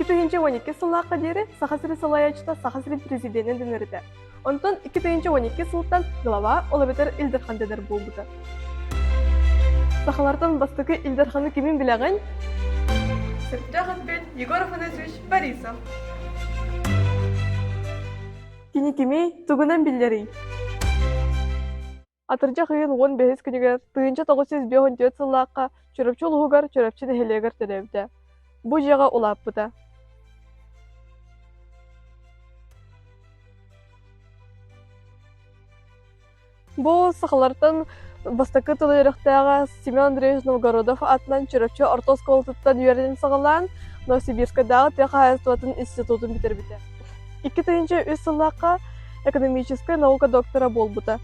Икки уон икки сыллаахха диэри Саха сирин салайаачыта Саха сирин президенин дэнэритэ. Онтон икки тыйынча уон икки сылтан глава ол эбэтэр Ил Дархан дэнэр буолбута. Сахалартан бастакы Ил Дарханы кимин билэҕин? Сырдыах Егор Афанасьевич Борисов. Кини кимий, тугунан биллэрий? Атырдьах ыйын уон бэһис күнүгэр тыһыынча тоҕус жүз биэс он түөрт сыллаахха Чурапчы улууһугар Чурапчы нэһилиэгэр төрөөбүтэ. Бу дьиэҕэ улааппыта. Бу сахалартан бастакы тыл үөрэхтээҕэ Семен Андреевич Новгородов атынан Чурапчы орто оскуолатыттан үөрэнэн саҕалаан Новосибирскайдааҕы тыа хаһаайыстыбатын институтун бүтэрбитэ. Икки тыһыынча үс сыллаахха экономическай наука доктора буолбута.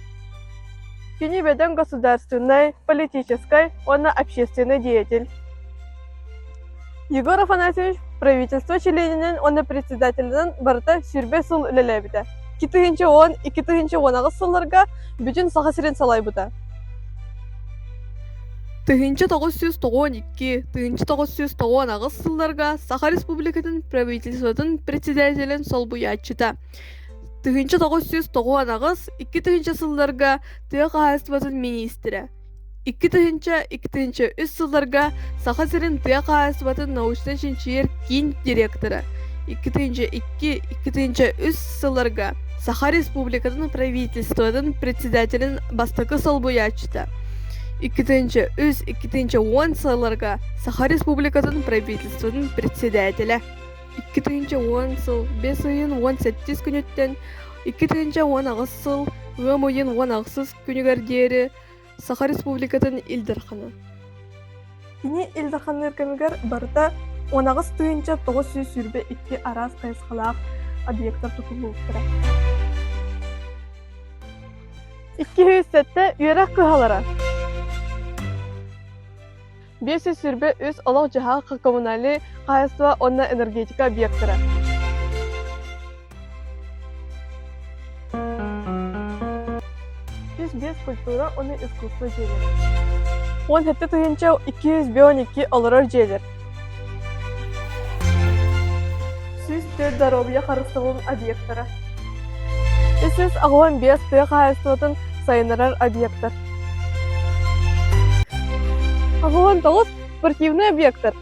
Кини бөдөҥ государственнай, политическай уонна общественнай деятель. Егор Афанасьевич правительство чилиэнинэн уонна председателинэн барыта сүүрбэ сыл үлэлээбитэ. Икки тыһыынча уон, икки тыһыынча уон аҕыс сылларга бүтүн Саха сирин салайбыта. Тыһыынча тоҕус сүүс тоҕуон икки, тыһыынча тоҕус сүүс тоҕуон аҕыс сылларга Саха Республикатын правительствотын председателин солбуйааччыта. Тыһыынча тоҕус сүүс тоҕуон аҕыс, икки тыһыынча сылларга тыа хаһаайыстыбатын министрэ. Икки тыһыынча, икки тыһыынча үс сылларга Саха сирин тыа хаһаайыстыбатын научно-чинчийэр киин директора икки тыһыынча икки, икки тыһыынча үс сылларга Саха Республикатын Правительствотын председателин бастакы солбуйааччыта икки тыһыынча үс, икки тыһыынча уон сылларга Саха Республикатын Правительствотын председателэ икки тыһыынча уон сыл бес ыйын уон сэттис күнүттэн икки тыһыынча уон аҕыс сыл ыам ыйын уон аҕысыс күнүгэр диэри Саха Республикатын Ил Дархана. Кини Ил Дарханныыр кэмигэр барыта унаҕас тыһыынча тоҕус сүүс сүүрбэ икки араас хайысхалаах объектар тутуллубуттара. Икки сүүс сэттэ үөрэх кыһалара. биэс сүүс сүүрбэ үс олох-дьаһах коммунальнай хаһаайыстыба уонна энергетика объектара сүүс биэс культура уонна искусство дьиэлэр уон сэттэ тыһыынча икки жүз он икки олорор дьиэлэр сүүс төрт доруобуйа харыстабылын объектара үс жүз аҕыан биэс тыа хаһаайыстыбатын сайыннарар объектар Аһылан тоҕус спортивный объектор.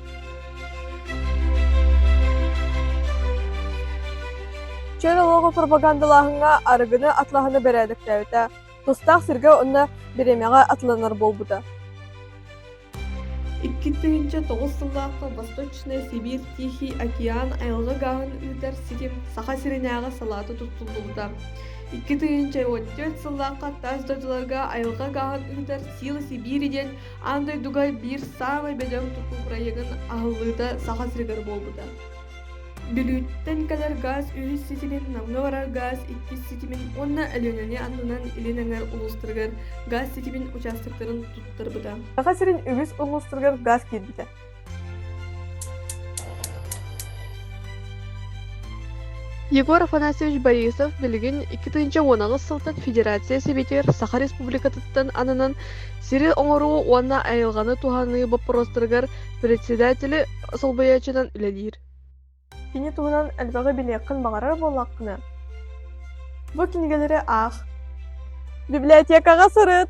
Чөл олоҕу пропагандалааһыҥҥа арыгыны атлаһыны бэрээдэктээбитэ, тустаах сиргэ онно бириэмэҕэ атланар буолбута. Икки тыһыынча тоҕус сыллаахха Восточная Сибирь Тихий океан айылҕа гааһын ыытар ситим Саха сиринээҕи салаата туттуллубута. Икки тыһыынча уон төрт сыллаахха тас дойдуларга айылҕа гааһын ыытар Сила Сибири диэн аан дойдуга биир саамай бөдөҥ тутуу бырайыагын аһыллыыта Саха сиригэр буолбута. Бүлүүттэн кэлэр гаас үһүс ситимин Намҥа барар гаас иккис ситимин уонна Өлүөнэни аннынан илин эҥэр улуустарыгар гаас ситимин учаастактарын туттарбыта. Саха сирин үгүс улуустарыгар гаас киирбитэ. Егор Афанасьевич Борисов билигин икки тыынча уонаҕыс сылтан Федерация Сэбиэтигэр Саха Республикатыттан ананан сири оҥоруу уонна айылҕаны туһаныы боппуруостарыгар Председателэ солбуйааччынан үлэлиир. Кини туһунан элбэҕи билиэххин баҕарар буоллаххына, бу кинигэлэри аах. Библиотекаҕа сырыт!